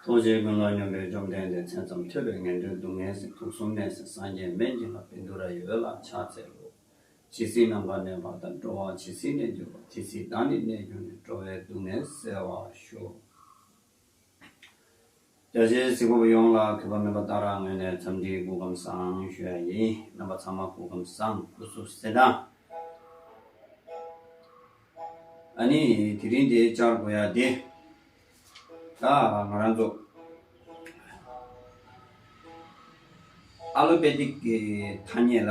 ཐུགས་རྗེའི་ཀུན་སློང་སྙོམས་པས་བཅོམ་ལྡན་འདས་མཚན་ཙམ་ཐོས་པས་ངན་འགྲོའི་སྡུག་བསྔལ་སྲིད་དུག་གསུམ་གནས་སའི་སངས་རྒྱས་སྨན་གྱི་ལྷ་བིནྡུ་ར་ཡི་འོད་ལ་ཕྱག་འཚལ་ལོ། ཇི་སྲིད་ནམ་མཁའ་ནས་བར་དག་འགྲོ་བ་ཇི་སྲིད་གནས་གྱུར་པ་དེ་སྲིད་བདག་ནི་གནས་གྱུར་ནས་འགྲོ་བའི་སྡུག་བསྔལ་བསལ་བར་ཤོག། རྒྱ་ཆེའི་གཟིགས་སྐོར་ཡོངས་ལ་གུས་པ་མོས་པ་ལྟར་ངོས་ནས་འཚམས་འདྲིའི་སྐུ་ཁམས་བཟང་ཞུ་ཡ་ཡིན། རྣམ་པ་ཚང་མ་སྐུ་ཁམས་བཟང་སྐུ་གཟུགས་གསལ་ཐང། ཨ་ནི་དེ་རིང་དེ་བཅར་དགོས་ཡ་དེ། ད་ང་རང་ཚོ། ཨ་ལོ་པེ་ཏིག་གི་ཐ་སྙད་ལ།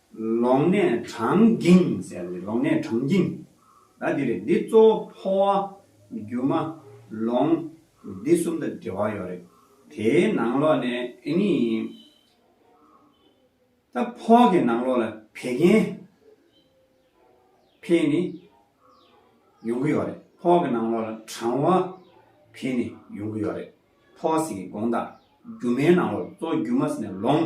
ལོག་ནས་གྲང་འགྱིང་ཟེར་བའི་ལོག་ནས་གྲང་འགྱིང་ད་འདི་རེད་འདི་གཙོ་བོ་ཕོ་བ་རྒྱུ་མ་ལོང་འདི་གསུམ་དང་འབྲེལ་བ་ཡོད་རེད་དེའི་ནང་ལོག་ནས་ཨེ་ནི་ད་ཕོ་བ་གི་ནང་ལོག་ལ་བད་ཀན་ཕེ་ནི་ཡོང་གི་ཡོད་རེད་ཕོ་བ་གི་ནང་ལོག་ལ་གྲང་བ་ཕེ་ནི་ཡོང་གི་ཡོད་རེད་ཕོ་བ་ཟེར་གི་དགོངས་དག་རྒྱུ་མའི་ནང་ལོག་གཙོ་བོ་རྒྱུ་མ་ཟེར་ནས་ལོང།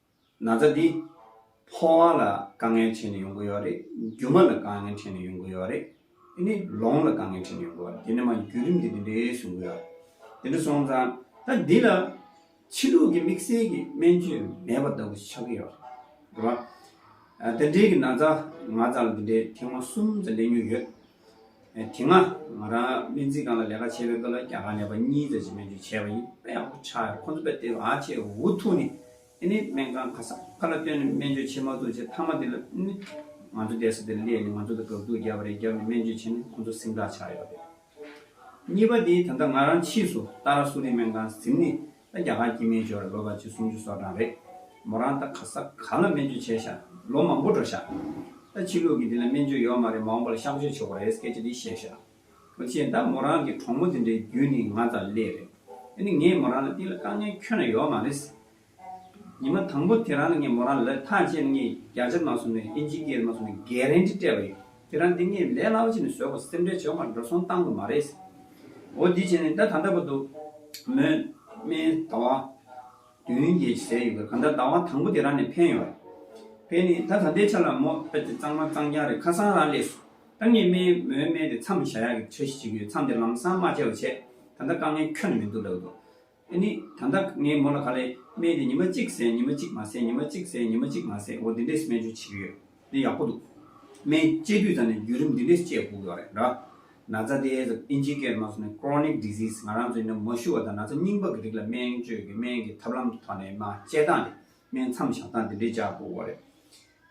ན་ཚ་འདི། ཕོ་བ་ལ་དཀའ་ངལ་འཕྲད་ནས་ཡོང་གི་ཡོད་རེད། རྒྱུ་མ་ལ་དཀའ་ངལ་འཕྲད་ནས་ཡོང་གི་ཡོད་རེད། དེ་ནས་ལོང་ལ་དཀའ་ངལ་འཕྲད་ནས་ཡོང་གི་ཡོད་རེད་དེ་ནས་མ་བརྒྱུད་རིམ་གྱིས་དེ་འདྲའི་བྱུང་གི་ཡོད། དེ་འདྲ་སོང་ཙང་ད་འདི་ལ། ཕྱི་ལུགས་ཀྱི་དམིགས་བསལ་གྱི་སྨན་བཅོས་མེད་པ་ལྟ་བུ་ཆགས་ཀྱི་ཡོད་རེད། དེ་འདྲའི་གི་ན་ཚ་ང་ཙམ་ལ་དེ་འདྲའི་ཐེངས་མ་གསུམ་ཙམ་སླེབས་མྱོང་ཡོད། དེ་སྔ་ང་རང་སྨན་རྩིས་ཁང་ལ་ལས་ཀ་བྱེད་པའི་སྐབས་ལ་རྒྱ་གར་ནས་པ་གཉིས་ཙམ་ཞིག་སྨན་བཅོས་བྱས་པ་ཡིན་དཔེ་ཡག་པོ་ཆགས་ཡོད་ཁོ་ཚོ་དཔེ་དེབ་ཨ་ཅེ་འུ་ཐུག་ནས་ཨེ་ནི་སྨན་ཁང་ཁ་སང་ཁ་ལ་བཏོན་ནས་སྨན་བཅོས་བྱེད་མ་ཐུབ་ཅེས་མཐའ་མ་དེ་ལ་ཨེ་ནི་ང་ཚོ་བསྡད་ས་དེར་སླེབས་ནས་ང་ཚོ་ལ་དགག་སྒྲུབ་བརྒྱབ་པ་རེད་བརྒྱབ་ནས་སྨན་བཅོས་བྱས་ནས་ཁོ་ཚོ་སེམས་ཐག་ཆགས་ཡོད་རེད། གཉིས་པ་དེ་ད་ལྟ་ང་རང་ཕྱིས་སུ་ཏཱ་ར་སུ་རི་སྨན་ཁང་གཟིམས་ནས་ད་རྒྱ་གར་གྱི་སྨན་སྦྱོར་ལོ་པ་ཆིག་སུམ་ཅུ་སོ་གྲངས་རེད། མོ་རང་ད་ག་ས་ག་ལ་སྨན་བཅོས་བྱས་ཤག་ལོ་མང་པོ་འགྲོ་ཤག། ད་ཕྱི་ལུགས་ཀྱི་དེ་ལ་སྨན་བཅོས་ཡོད་མ་རེད་མང་པོ་ལ་གཤམ་བཤད་ཆོག་པ་རེད་སྐད་ཆ་འདི་བཤད་ཤག། མོ་ཆེ་ད་མོ་རང་གི་གྲོགས་མོ་དེ་འདྲའི་རྒྱུད་ནི་ང་དང་ཀླད་རེད། དེ་ནི་ངས་མོ་རང་ལ་དེ་ལ་དཀའ་ངལ་ཁྱོན་ན་ཡོད་མ་རེད། ཉི་མ་དང་པོ་དེ་རང་ལ་ངས་མོ་རང་ལ་ཐག་བཅད་ནས་ངས་བརྒྱ་ཆ་མ་སོང་ནས་ཨིན་ཇི་སྐད་མ་སོང་ནས་འགལ་རན་འདྲི་སྤྲད་པ་རེད། ཁྱེད་རང་འདི་ངས་ལས་སླ་བོ་བྱས་ནས་བཟོས་གོ་སེམས་ཁྲལ་བྱེད་འོང་བར་འགྲོ་སོང་བཏང་གི་མ་རེད། འོ་འདི་བྱས་ནས་ད་ད་ལྟ་བ་འདུག། མོས་སྨྲས། ཟླ་བ། བདུན་གྱི་ཟས་ཡོད་གི་གང་ལྟར་ཟླ་བ་དང་པོ་དེ་རང་ནས་ཕན་ཡོད། ཕན་ནི་ད་ད་ལྟའི་ཆ་ལ་མོ་ཨ་ཅེ་གཙང་མ་གཙང་རྐྱང་རེད་ཁ་སང་རང་ལས་སུ་ཨ་མྱེས་སྨྲས་མོས་སྨྲས་ཏེ་མཚམས་བཞག་ཡག་གི་འཆར་གཞི་བྱེད་ཀྱི་ཡོད་མཚམས་དེར་ལམ་སང་མ་བྱས་བ་བྱས་ད་ལྟ་དཀའ་ངལ་ཁྱོན་ནས་མི་འདུག་ལབ་འདུག། ཨེ་ནི། ད་ལྟ་ངའི་མོ་ལ་ག་ལས་སྨན་དེ་ཉི་མ་གཅིག་ཟས་ཉི་མ་གཅིག་མ་ཟས་ཉི་མ་གཅིག་ཟས་ཉི་མ་གཅིག་མ་ཟས་འོ་འདི་འདྲས་སྨན་བཅོས་བྱེད་ཀྱི་ཡོད། འདི་ཡག་པོ་འདུག། སྨན་སྤྱད་དུས་ད་ནི་བརྒྱུད་རིམ་འདི་འདྲས་སྤྱད་དགོས་ཀྱི་ཡོད་རེད་འདྲ། ན་ཚ་དེ་ཟ་ཨིན་ཇི་སྐད་དམངས་སུ་ནི Chronic Disease ང་རང་ཚོའི་ནི་མ་ཞུ་བ་དང་ན་ཚ་རྙིང་པ་གི་རིགས་ལ་སྨན་བཅོས་ཀྱི་སྨན་གྱི་ཐབས་ལམ་གྱི་ཐོག་ནས་མ་སྤྱད་སྟངས་དེ་སྨན་མཚམས་བཞག་སྟངས་འདི་འདྲས་སྤྱད་དགོས་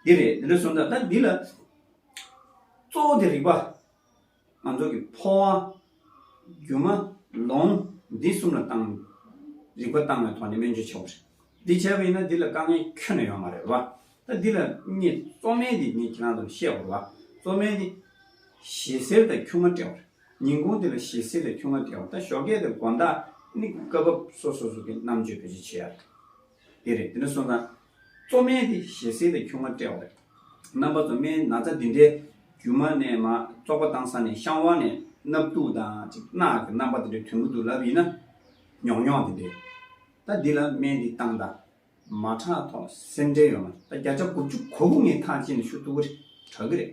ཀྱི་རེད། འདི་རེད། འདི་འདྲས་སོང་ཙང་ད་འདི་ལ་གཙོ་བོ་དེ་རིག་པ། ང་ཚོ་གི་འཕོ་བ། སྒྱུ་མ། ལོང། འདི་གསུམ་ལ་བཏང། རིག་པ་བཏང་བའི་ཐོག་ནས་སྨན་བཅོས་བྱེད་པ་རེད། འདི་བྱས་པ་ཡིན་ན་འདི་ལ་དཀའ་ངལ་ཁྱོན་ནས་ཡོང་བ་རེད་བ། ད་འདི་ལ་ངས་གཙོ་སྨན་འདི་ངས་ཁྱེད་རང་ཚོར་བཤད་བར་བ། གཙོ་སྨན་འདི། ཞེ་སེར་དང་ཁྱུང་མ་དཔྲལ་བ་རེད། ཉིན་གུང་འདི་ལ་ཞེ་སེར་དང་ཁྱུང་མ་དཔྲལ་བ་ད་ཞོགས་སྐད་དང་དགོངས་དག་ནི་སྐབས་བབ་སོ་སོ་སོ་གི་རྣམ་དཔྱོད་བེད་སྤྱོད་བྱེད་ཡ་རེད། དེ་རེད་དེ་ནས་སོང་ཙང། གཙོ་སྨན་དེ་ཞལ་ཟས་དང་ཁྱུང་ང་སྤྲེའུ་རེད། རྣམ་པ་གཙོ་སྨན་ན་ཚ་འདི་འདྲའི་རྒྱུ་མ་ནས་མ་བཙོག་པ་བཏང་ས་ནས་བཤང་བ་ནས་སྣབས་གཏུག་དང་ཅིག་རྣག་གི་རྣམ་པ་འདི་འདྲའི་དོན་གུ་དུ་ལབ་ཡིན་ན་ཉོག་ཉོག་འདི་འདྲའི། ད་འདི་ལ་སྨན་འདི་བཏང་ད་མ་ཁྲག་ཐོག་སེམས་འདྲེ་ཡོང་ན་ད་བརྒྱ་ཆ་དགུ་བཅུ་གོ་དགུ་ངའི་ཐག་བཅད་ནས་ཤུ་ཐུག་གི་རེད་གྲག་གི་རེད།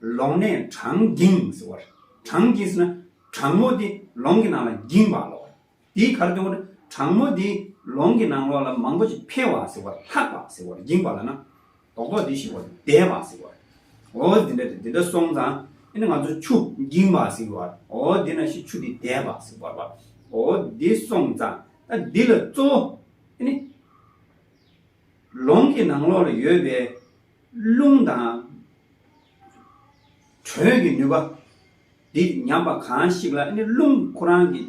ལོང་ནས་གྲང་འགྱིངས་ཟེར་བ། གྲང་འགྱིངས་ཟེར་ན་གྲང་མོ་དེ་ལོང་གི་ནང་ལ་འགྱིངས་པ་ལོག་བ། དེའི་གར་དོན་དུ་གྲང་མོ་དེ་ལོང་གི་ནང་ལོག་ལ་མང་པོ་ཅིག་འཕེལ་བ་ཟེར་བ། ལྷགས་པ་ཟེར་བ། འགྱིངས་པ་ལ་ན་དོག་དོག་དེ་ཞེས་བ་བདས་པ་ཟེར་བ། འོ་འདི་འདྲ་དེ་འདི་འདྲ་སོང་ཙང་ཨེ་ན་ང་ཚོ་ཆུ་འགྱིངས་པ་ཟེར་བ། འོ་དེ་ན་ཤི་ཆུ་དེ་བདས་པ་ཟེར་བ། འོ་དེ་སོང་ཙང་ཨ་འདི་ལ་གཙོ་བོ་ཨེ་ནི། ལོང་གི་ནང་ལོག་ལ་ཡོད་པའི། རླུང་དང། དྲོད་ཀྱི་ནུས་པ། འདི་ཉམས་པ་གང་ཞིག་ལ་ནི་རླུང་ཁོ་རང་གི་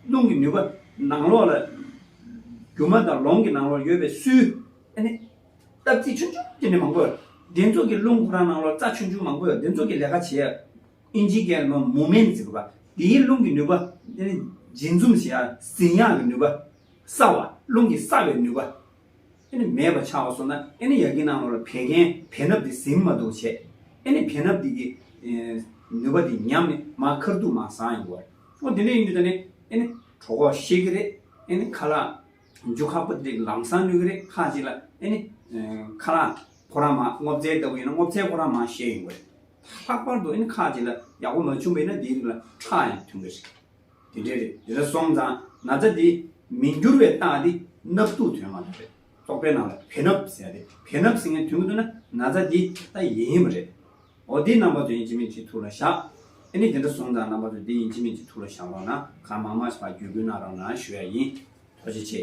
རླུང་གི་ནུས་པ་ནང་ལོགས་ལ། རྒྱུ་མ་དང་ལོང་གི་ནང་ལོགས་ཡོད་པའི་སུལ། སྟབས་རྩི་ཆུང་ཆུང་དེ་ནི་མང་པོ། འདི་ཚོགས་ཀྱི་རླུང་ཁོ་རང་ནང་ལོགས་རྩ་ཆུང་ཆུང་མང་པོ་འདི་ཚོགས་ཀྱི་ལས་ཀ་བྱེད། ཨིན་ཇི་ཀའི་ནོ་མུ་མེན་ཟེར་བ། དེའི་རླུང་གི་ནུས་པ། འབྱིན་འཛུམ་ཞེས་ཟིན་ཡག་གི་ནུས་པ། སྲ་བ། རླུང་གི་སྲ་བའི་ནུས་པ། ཨེ་ནི་མེད་པར་ཆགས་པ་སོགས་ན་ཨེ་ནི་ཡ་གི་ནང་ལོགས་ལ་བད་ཀན་བེ་སྣབས་དེ་ཟིན་མ་དུག་བྱེད། ཨེ་ནི་བེ་སྣབས་དེ་གི། ནུས་པ་དེ་ཉམས་ནས་མ་ཁར་དུག་མ་སངས་ཡོང་བར། ཨོ་དེ་འདྲ་ཡིན་དུས་ད་ནི་ཨེ་ནི། གྲོ་གོག་བཤད་གི་རེད་ཨེ་ནི་ཁ་ལག། འཇུ་ཁག་པོ་ཏི་ལམ་སང་ནུས་གི་རེད་ཁ་ཅིག་ལ་ཨེ་ནི། ཁ་ལག་ཕོ་ར་མ་སྔོ་བཙའི་ལྟ་བུ་ཡིན་ན་སྔོ་བཙའི་ཕོ་ར་མ་བཤད་ཡོང་བ་རེད། ལྷག་པར་དུ་ཨེ་ནི་ཁ་ཅིག་ལ་ཡག་པོ་མ་བྱུང་བས་ན་དེའི་རིགས་ལ་ཁྲག་ཡང་ཐོན་གི་རེད། དེ་འདྲའི་རེད་དེ་འདྲ་སོང་ཙང་ན་ཚ་དེ་མི་འགྱུར་བའི་རྟགས་དེ་སྣབས་སྟུག་དོན་མ་རེད་རྟོག་པའི་ནང་ལ་བེ་སྣབས་ཟེར་ཏེ་བེ་སྣབས་ཟིན་ངེས་དོན་གྱི་དོན་ན་ན་ཚ་དེ་ད་ཡིན་མ་རེད། འོ་དེ་རྣམ་པ་དོན་ཡིན་གྱི་མིན་གྱི་ཐུགས་ལ་བཞག་ཨེ་ནི་དེ་འདྲ་སོང་ཙང་རྣམ་པ་དོན་དེ་ཡིན་གྱི་མིན་གྱི་ཐུགས་ལ་བཞག་རོགས་གནང་གང་མང་མང་ཞིག་བར་བརྒྱུད་བསྐུལ་གནང་རོགས་གནང་ཞུ་ཡ་ཡིན། ཐུགས་རྗེ་ཆེ།